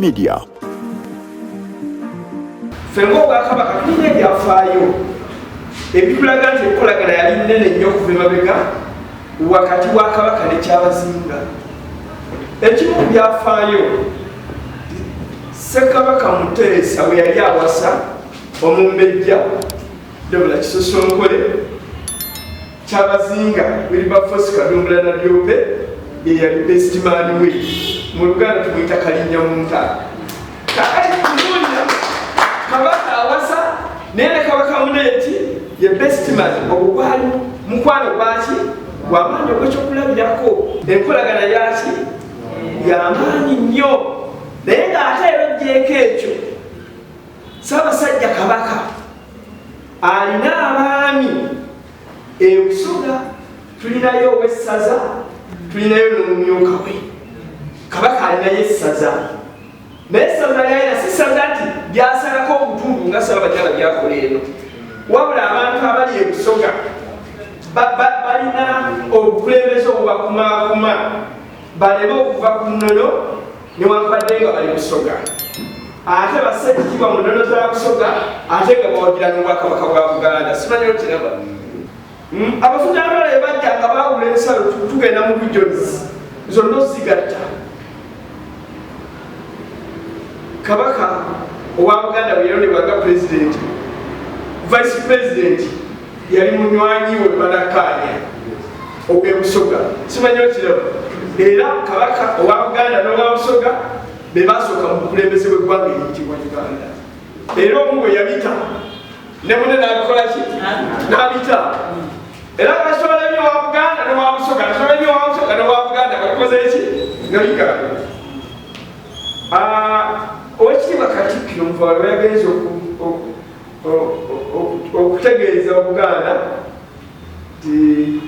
media ffe ngaobwakabaka tulina ebyafaayo ebitulaga nti enkolagana yali nene nnyo okuva emabega wakati wa kabaka nekyabazinga Ekimu ku byafaayo Ssekabaka Muteesa bwe yali awasa omumbejja Debula Kisosonkole Kyabazinga Wilberforce Kadumbula Nadiope ye yali besitimaani we mu Luganda tumuyita Kalinnyamunta. kakati kubuulira kabaka awasa naye ne kabaka mune nti ye bestiman ogugwali mukwano gwaki gwamaanyi ogwekyokulabirako enkolagana yaki yamaanyi nnyo naye ng'ate era ojjeeko ekyo sabasajja kabaka alina abaami ebusoga tulinayo owessaza tulinayo n'omumyuka we kabaka alinayo essaza naye sabula lyayina si sabula nti lyasalako obutundu nga saba bajala byakola eno wabula abantu abali ebusoga balina obukulembeze obubakumakuma baleme okuva ku nnono newankubadde nga bali busoga ate basse ekitiibwa mu nnono za busoga ate nga bawagira n'obwakabaka bwa buganda simanyi okiraba Hmm, Abafunyantola ebajja nga baawula ensalo tugenda mu regions zonna ozigatta. Kabaka owa Buganda bwe yalondebwa nga pulezidenti, vice pulezidenti yali munywanyi we banakkaanya ogw'e Busoga. Simanyi okiraba. Era Kabaka owa Buganda n'owa Busoga be baasooka mu bukulembeze bw'eggwanga eriyitibwa Uganda. Era omu bwe yabita ne mune nabikola ki nabita era kasolemye wa buganda ne wa busoga kasolemye wa busoga ne wa buganda kakoze ki noyiga ah, owekitiibwa katikkiro muvalo yagenze okutegeeza obuganda ti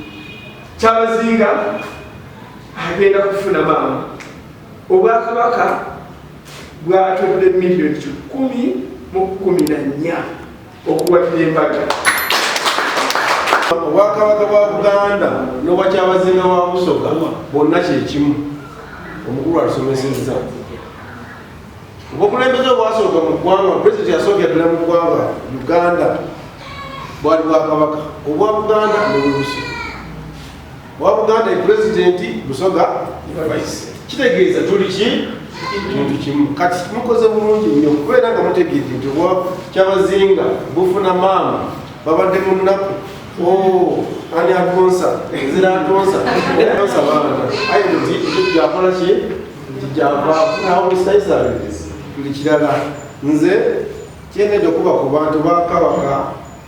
kyabazinga agenda kufuna maama Obwakabaka bwatodde miliyoni kikumi mu kumi na nnya okuwagira embaga. Obwakabaka bwa Buganda n'obwakyabazinga wa Busoga bwonna kyekimu, omukulu atusomesezza obukulembeze obwasooka mu ggwanga pulezidenti yasookera ddala mu ggwanga uganda bwali bwakabaka obwa buganda nobwebusi wa buganda epulezidenti busoga vice kitegeeza tuli ki kintu kimu kati mukoze bulungi nnyo kubeera nga mutegeedde nti obwa kyabazinga bufuna maama babadde mu nnaku oh, ani atonsa ezira atonsa atonsa baana aye nti ekyo kyakola ki nti kyavafunawo musaisale buli kirala nze kyendedde okuba ku bantu bakabaka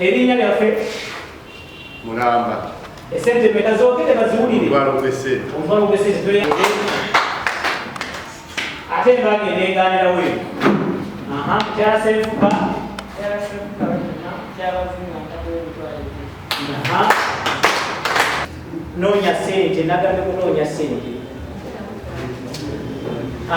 Erinnya lyaffe mulamba esente meka zogere baziwulire ate mbage neganira we aha mukyala sefuka noonya sente nagambye kunoonya sente